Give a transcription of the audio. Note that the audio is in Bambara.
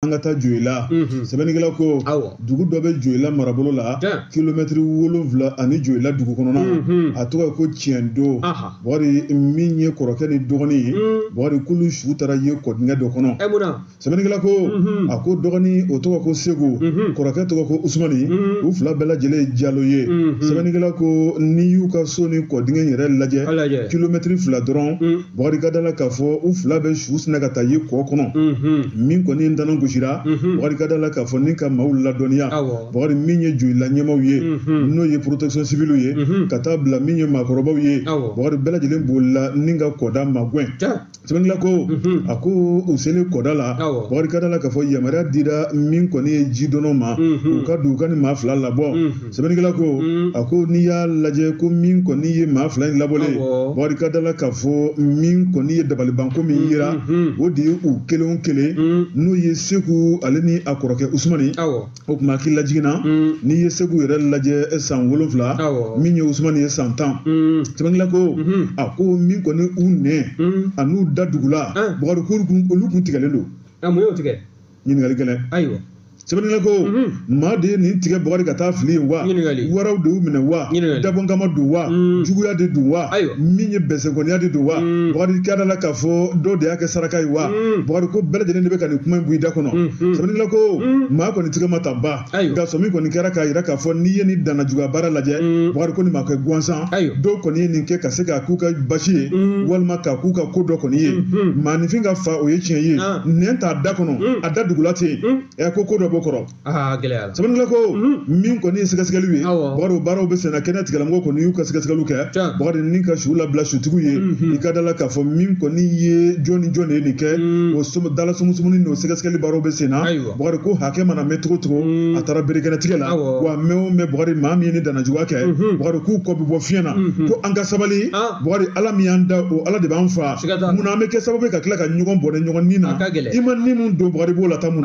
an ka taa joyila sɛbɛnnikɛla ko dugu dɔ bɛ joyila marabolo la kilomɛtiri wolonfila ani joyila dugu kɔnɔna a tɔgɔ ye ko tiɲɛdo bakari min ye kɔrɔkɛ ni dɔgɔnin ye bakari k'olu su taara ye kɔdingɛ dɔ kɔnɔ sɛbɛnnikɛla ko a ko dɔgɔnin o tɔgɔ ko segu kɔrɔkɛ tɔgɔ ko usumani u fila bɛɛ lajɛlen ye jalo ye sɛbɛnnikɛla ko n'i y'u ka so ni kɔdingɛ yɛrɛ lajɛ kilomɛtiri fila dɔrɔn Bakari ka da la k'a fɔ u fila bɛɛ su sinna ka taa ye kɔ kɔnɔ min kɔni ye ntanan gosira bakari ka da la k'a fɔ ni ka maaw ladɔnniya bakari min ye joyila ɲɛmaaw ye n'o ye protection civile ye ka taa bila min ye maakɔrɔbaw ye bakari bɛɛ lajɛlen bolila ni ka kɔda magwɛn sɛbɛnnikɛla ko a ko u selen kɔda la bakari ka da la k'a fɔ yamaruya dira min kɔni ye jidɔnnaw ma u ka don u ka nin maa fila labɔ sɛbɛnnikɛla ko mm. a ko n'i y'a lajɛ ko min kɔni ye maa fila in labɔlen bakari ka da la k'a fɔ min kɔni ye dabalibanko min yera mm-hmm. o de ye u kelen o kelen mm. n'o ye segu ale ni a kɔrɔkɛ usumani o tuma hakililajigin na mm. n'i ye segu yɛrɛ lajɛ eh, san wolonfila min ye usumani ye san tan sɛbɛnnikɛla ko mm-hmm. a ko min kɔni u nɛn an'u da dugula eh. bakari k'olu kun tigɛlen don eh, mun y'o tigɛ ɲininkali gɛlɛn ayiwa sɛbɛnnikɛla ko mhm. maa de ye nin tigɛ bakari ka taa fili yen wa waraw de y'u minɛ wa dabɔnkama don wa mhm. juguya de don wa min ye bɛnsɛnkɔniya de don wa mhm. bakari ka da la k'a fɔ dɔw de y'a kɛ saraka ye wa bakari ko bɛɛ lajɛlen de bɛ ka nin kuma in bɔ i da kɔnɔ sɛbɛnnikɛla ko maa kɔni tigɛ ma ta ban nka sɔɔmi kɔni kɛra k'a jira k'a fɔ n'i ye nin danna juguya baara lajɛ mm. bakari ko nin ma kɛ gansan dɔw kɔni ye nin kɛ ka se k'a k'u ka basi ye mm. walima k'a k'u ka ko dɔ kɔni ye mm-hmm. maaninfin ka faa o ye tiɲɛ ye ah. nɛn t'a da kɔnɔ mm. a da dugula tɛ yen ɛ ko ko dɔ b'o kɔrɔ ah, sɛbɛnnikɛla ko min kɔni ye sɛgɛsɛgɛliw ye bakari o baaraw bɛ senna kɛnɛyatigilamɔgɔw kɔni y'u ka sɛgɛsɛgɛliw kɛ bakari ni ka su labila sutigiw ye mm-hmm. i ka da la k'a fɔ min kɔni ye jɔn ni jɔn de ye nin kɛ o dalasumusumu n'o sɛgɛsɛgɛli baaraw bɛ senna bakari ko hakɛ mana mɛɛn cogo o cogo mm. a taara berekɛnɛtigɛ la wa mɛɛn o mɛɛn bakari maa min ye nin dannajuguya kɛ mm-hmm. bakari k'u kɔ bɛ bɔ fiɲɛ na mm-hmm. ko an ka sabali ah. bakari ala min y'an da o ala de b'an faa mun na an bɛ kɛ sababu ye ka tila ka ɲɔgɔn bɔnɛ ɲɔgɔn ni na i ma ni min don bakari b'o la ta mun